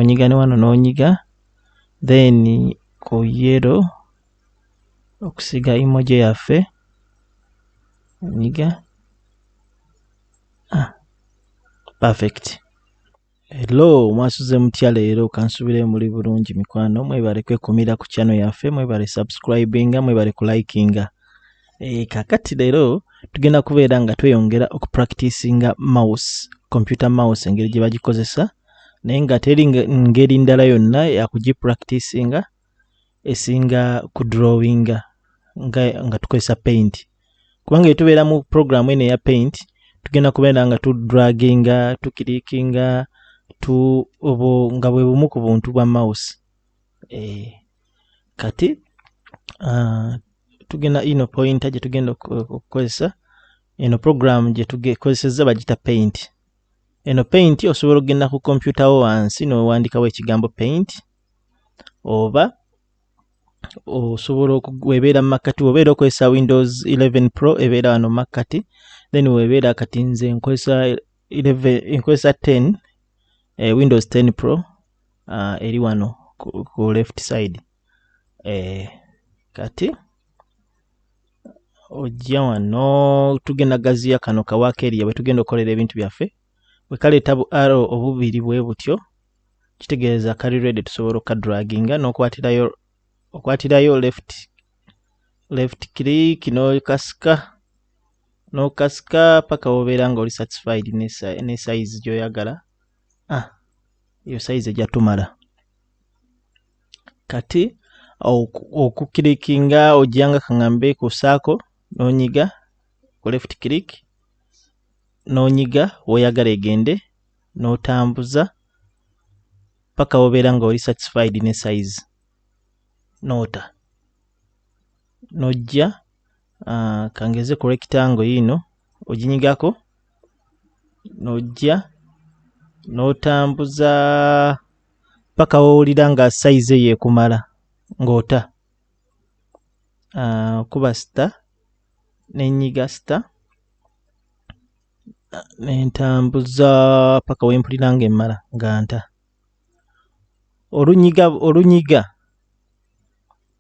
onyiga ne wano n'onyiga then ku yero okusiga emoji yaffe onyiga ah, perfect hello mwasuze mutya leero kansubire muli bulungi mikwano mwebale kwekumira ku channel yaffe mwebale subscribinga mwebale kulikinga e, kakati leero tugenda kubeera nga tweyongera okupracticinga mouse computer mouse engeri gye bagikozesa naye nga teri ngeri ndala yonna yakugipracticinga esinga kudrawinga nga, nga tukozesa paint kubanga etubeera mu program eno eya paint tugenda kubeera nga tudraginga tukirikinga tu obo nga bwe bumu ku buntu bwa mouse e, kati uh, tugenda ino pointer gye tugenda okukozesa eno program gye tugekozesezza bagita paint Eno paint osobola okugenda ku kompyuta wo wansi n'owandikawo ekigambo paint oba osobola webeera mu makkati wobeera okozesa windows 11 pro ebeera wano mu makkati then webeera kati nze nkozesa 11 nkozesa 10 eh, windows 10 pro uh, eri wano ku, ku left side eh, kati ojja wano tugenda gaziya kano kawaako eriya bwe tugenda okukolera ebintu byaffe bwe kaleeta bu aro obubiri bwe butyo kitegeeza kali redi tusobola okukadraginga n'okwatirayo okwatirayo left left click n'okasika n'okasika paka wobeera nga oli satisfied ne size gy'oyagala ah, eyo size ejja tumala kati okukilikinga ojanga kaŋambe ku saako nonyiga ku left click nonyiga woyagala egende notambuza paka wobeera nga oli satisfied ne size nota nojja uh, kangeze ku rectangle yiino oginyigako nojja notambuza paka wowulira nga size eyo ekumala ng'ota uh, kuba sita nenyiga sita nentambuza paka wempulira nga emmala nga nta olunyiga olunyiga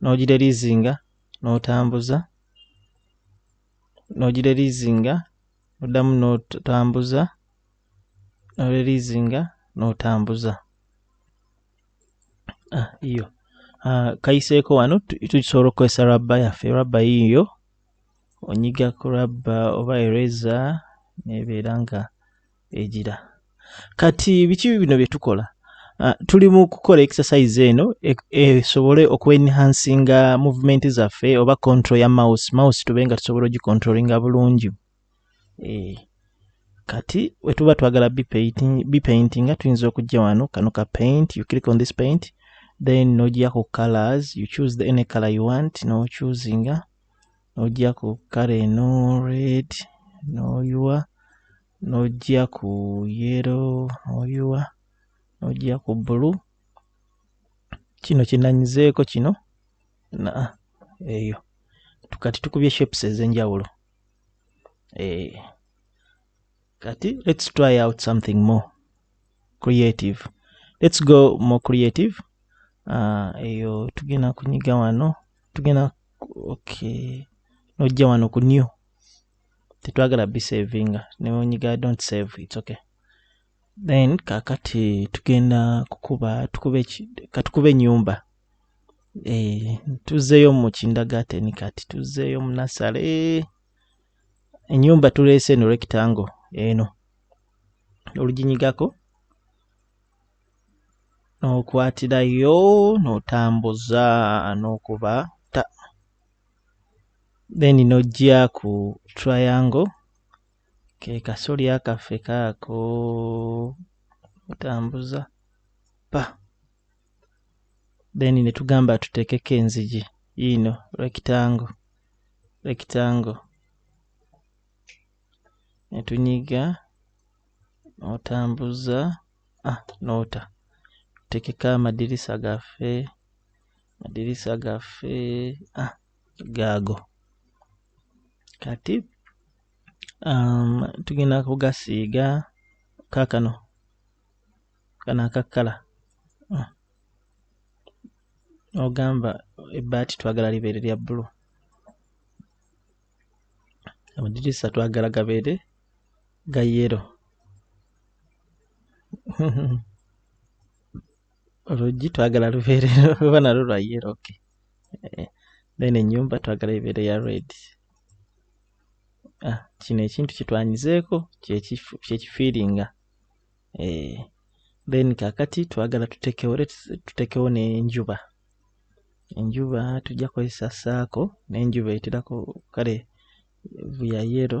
n'ogireliizinga n'otambuza n'ogireliizinga oddamu n'otambuza n'oreliizinga n'otambuza ah, iyo ah, kayiseeko wano tukisobola okukozesa rabba yaffe rabba yiiyo onyiga ku rabba oba ereza nebeera nga egira kati biki bino bye tukola ah, tuli mu kukola exercise eno e-, esobole e, okuenhansinga movement zaffe oba control ya mouse mouse tube nga tusobola ogicontrolinga bulungi e, kati wetuba twagala bipaintinga tuyinza okujja wano kano ka paint you click on this paint then nojja ku colors you choose the any color you want nochusinga n'ojja ku kale eno red n'oyiwa n'ojja ku yero n'oyiwa n'ojja ku bulu kino kinanyizeeko kino na eyo kati tukubye shapes ez'enjawulo eh, kati let's try out something more creative let's go more creative uh, eyo tugenda kunyiga wano tugenda okay nojja wano ku new tetwagala bisavinga newenyiga don't save its okay then kakati tugenda kukuba tukube katukuba enyumba e, eh, tuzeyo mu kindagateni kati tuzeyo munasale enyumba tulese no rectangle eno oluginyigako n'okwatirayo n'otambuza n'okuba ta then n'ojja ku triangle ke kasolya kaffe kaako otambuza pa then ne tugamba tuteekeko enzigi yiino rectangle rectangle ne tunyiga n'otambuza ah nota tekeka amadirisa gaffe amadirisa gaffe ah gaago kati um, tugenda kugasiiga kakano kano akakkala ah. ogamba ebbaati twagala libeere lya bbulu amadirisa twagala gabeere ga yero oluggi twagala lubeere oba nalwo lwa yero ok eh, then enyumba twagala ebeere ya red ah, kino ekintu kitwanyizeeko kyekifiiringa eh, then kakati twagala tutekewo tutekewo nenjuba enjuba tujja kozesa saako nenjuba eterako kale vuya yero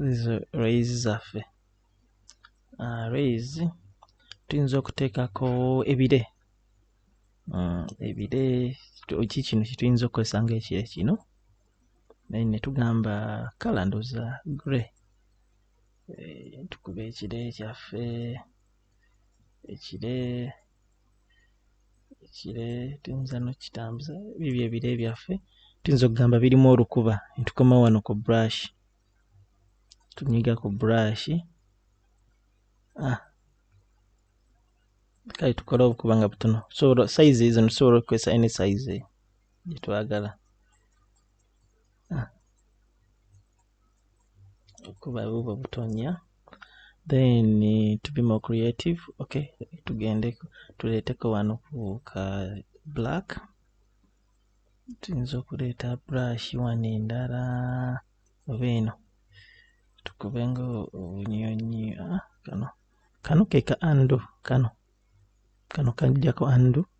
zizo raise zaffe uh, raise tuyinza okuteekako ebire uh, ebire ki kino kyetuyinza okukozesa nga ekire kino naye netugamba kala ndoza gray e, eh, tukuba ekire kyaffe ekire ekire tuyinza nokitambuza ebyo byebire byaffe tuyinza okugamba birimu olukuba netukoma wano ku brush tunyiga ku brush ah. kale tukole obukuba nga butono tusobola size ezo tusobola okukozesa any size gyetwagala kuba bubwo butonya then to be more creative okay tugende tuleteko wano ka black tuyinza okuleeta brush wano endala oba eno tukube nga obunyonyi ah, kano kano keka ando kano kano kajjako ando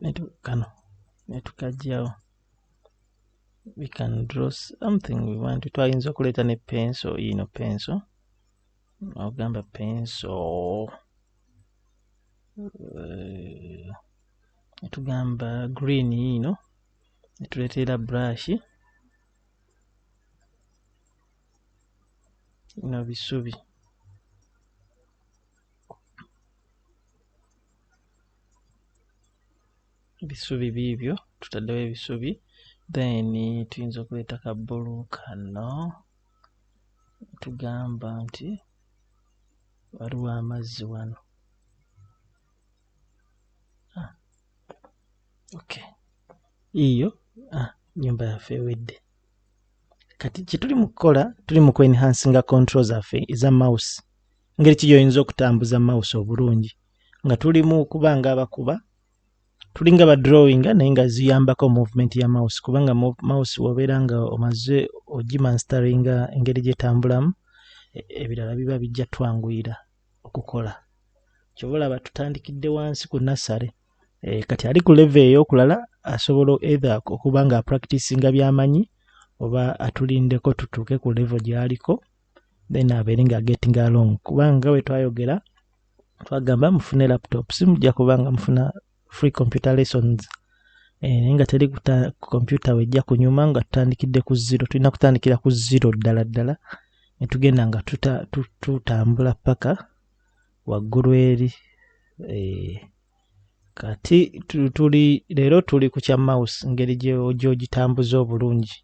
netu kano netukajjawo we can draw something we want twayinza okuleeta ne penso yino penso ogamba penso eh, netugamba green yino netuleteera brush no bisubi ebisubi biibyo tutaddewo ebisubi then tuyinza okuleeta ka bbulu kano tugamba nti waliwo amazzi wano ah, okay iyo ah, nyumba yaffe ewedde kati kyetuli mu kukola tuli mu kwenhansinga control zaffe eza mouse ngeri ki gyoyinza okutambuza mouse obulungi nga tuli mu kuba nga abakuba tulinga ba drawinga naye nga ziyambako movement ya mouse kubanga mouse wobeera nga omaze ogimanstaringa engeri gyetambulamu e, ebirala biba bijja twanguyira okukola kyoba olaba tutandikidde wansi ku nassale e, kati ali ku leve eyokulala asobola ethe okuba nga apractisinga byamanyi oba atulindeko tutuuke ku levo gyaliko then abeere nga getting along kubanga we twayogera twagamba mufune laptop simujja kubanga mufuna free computer lessons eh, naye nga teri kompyuta wejja kunyuma nga tutandikidde ku zero tulina kutandikira ku zero ddala ddala netugenda nga tutambula paka waggulu eri eh, kati tuli leero tuli ku kya mouse ngeri gyogitambuza obulungi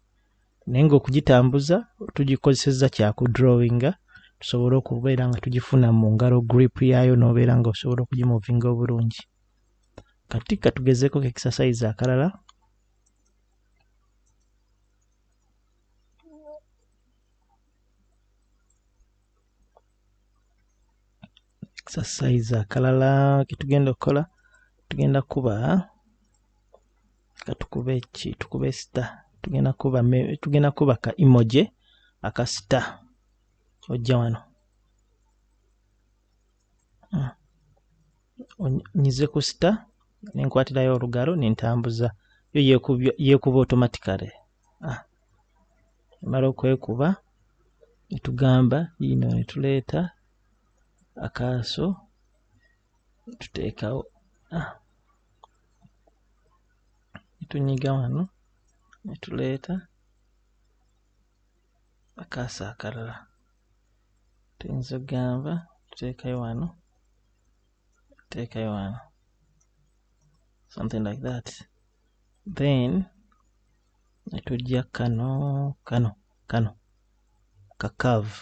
naye ng'okugitambuza tugikozesezza kyakudrawinga tusobole okubeera nga tugifuna mu ngalo grip yaayo n'obeera nga osobola okugimuvinga obulungi kati katugezeeko ku exercise akalala exercise akalala ketugenda okukola tugenda kuba katukube ki tukube sita tugenda kuba tugenda kuba ka emoji aka sita ojja wano hmm. nyize ku sita nenkwatirayo olugalo nentambuza yo yekuba automatically ah. mala okwekuba netugamba yino netuleeta akaaso tuteekawo ah. tunyiga wano netuleeta akaasa akalala tuyinza okugamba tuteekayo wano tuteekayo wano something like that then netujja kano kano kano kakaavu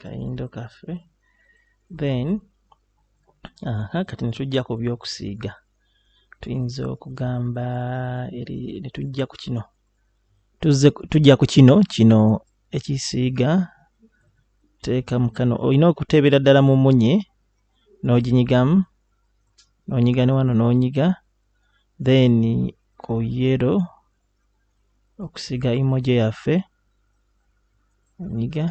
kayindo kaffe then aha kati netujja ku byokusiiga tuyinza okugamba eri netujja ku kino tujja ku kino kino ekisiiga teeka mukano olina okuteebera ddala mu munye n'oginyigamu n'onyiga ne wano n'onyiga then ku yero okusiga emoji yaffe nyiga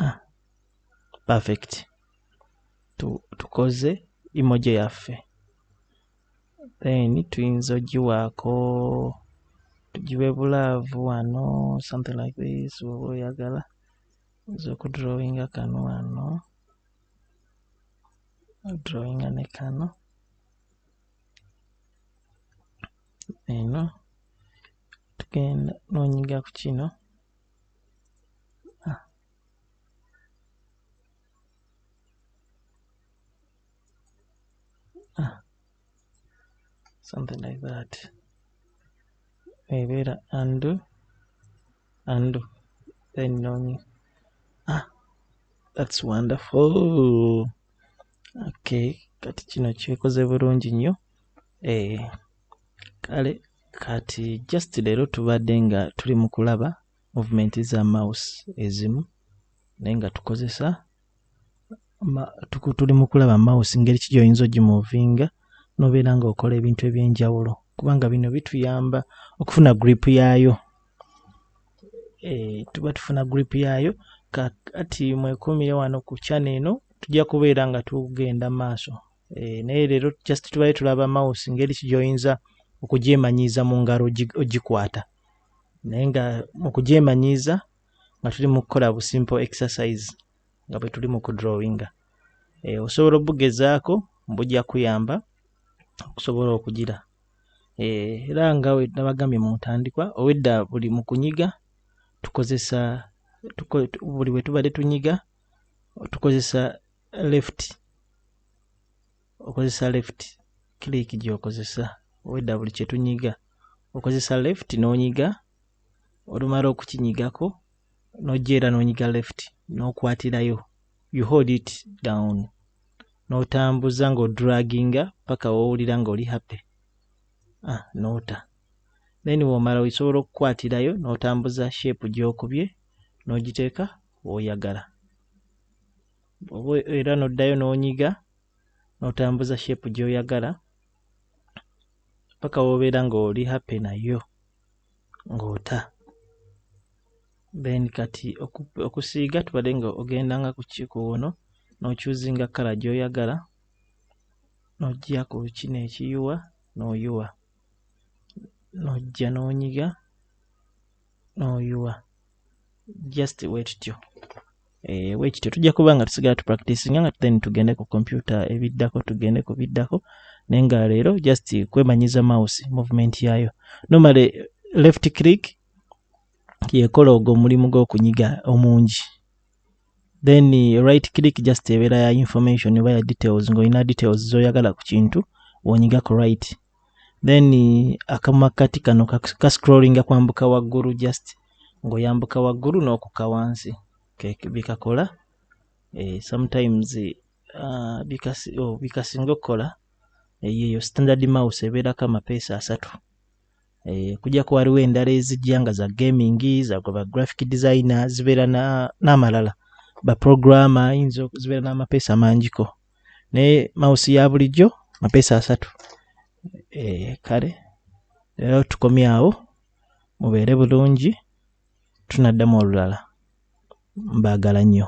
ah, perfect tukoze emoji yaffe then tuyinza ogiwaako tugiwe bulaavu wano something like this woba oyagala nza okudrawinga kano wano drawinga ne kano eno tugenda nonyiga ku kino ah. Ah. something like that ebeera undo undo then nonyi ah that's wonderful okay kati kino kyekoze bulungi nnyo eh, kale kati just leero tubadde nga tuli mu kulaba movement za mouse ezimu naye nga tukozesa tuli mu kulaba mouse ngeri ki gyoyinza ogimuvinga nobeera nga okola ebintu ebyenjawulo kubanga bino bituyamba okufuna grip yaayo e, tuba tufuna group yaayo kati mwekumire wano ku chana eno tujja kubeera nga tugenda maaso e, naye leero just tubaye tulaba mouse ngeri kijoyinza okugyemanyiiza mu ngalo ogikwata naye nga okugyemanyiiza nga tuli mu kukola bu simple exercise nga bwe tuli mu kudrawinga eh, osobola obugezaako mbujja kuyamba okusobola okugira eh, era nga nabagambye mu ntandikwa obwedda buli mu kunyiga tukozesa tuko, buli bwe tubadde tunyiga tukozesa left okozesa left click gyokozesa obwedda buli kyetunyiga okozesa left n'onyiga olumala okukinyigako nojja era nonyiga left nokwatirayo you hold it down notambuza nga odraginga paka wowulira nga oli happy ah, nota then womala osobola okukwatirayo notambuza shape gyokubye nogiteeka woyagala oba era noddayo nonyiga notambuza shape gyoyagala paka wobeera ng'oli happy nayo ng'ota then kati okusiiga tubadde nga ogenda nga ku kikuwono n'okyuzinga kkala gy'oyagala n'ojja ku kino ekiyuwa n'oyuwa n'ojja n'onyiga noyuwa just wetutyo eh, wekityo tujja kuba nga tusigala tupracticinga nga then tugende ku kompyuta ebiddako tugende ku biddako naye nga leero just kwemanyiza mouse movement yayo nomale left click yekola ogwo omulimu gwokunyiga omungi then eh, right click just ebeera ya information oba ya details ngaolina details zoyagala ku kintu wonyiga ku right then akamakkati kano kascrollinga kwambuka waggulu just ng'oyambuka waggulu n'okukka wansi bikakola eh, sometimes uh, oh, bikasinga okukola eh, yeyo standard mouse ebeerako amapeesa asatu eh, kujako waliwo endala ezijja nga za gaming zagoba graphic designer zibeera n'amalala na baprogramma ayinza zibeera n'amapeesa mangiko ne mausi ya bulijjo mapeesa asatu e, kale leero tukomye awo mubeere bulungi tunaddamu olulala mbaagala nnyo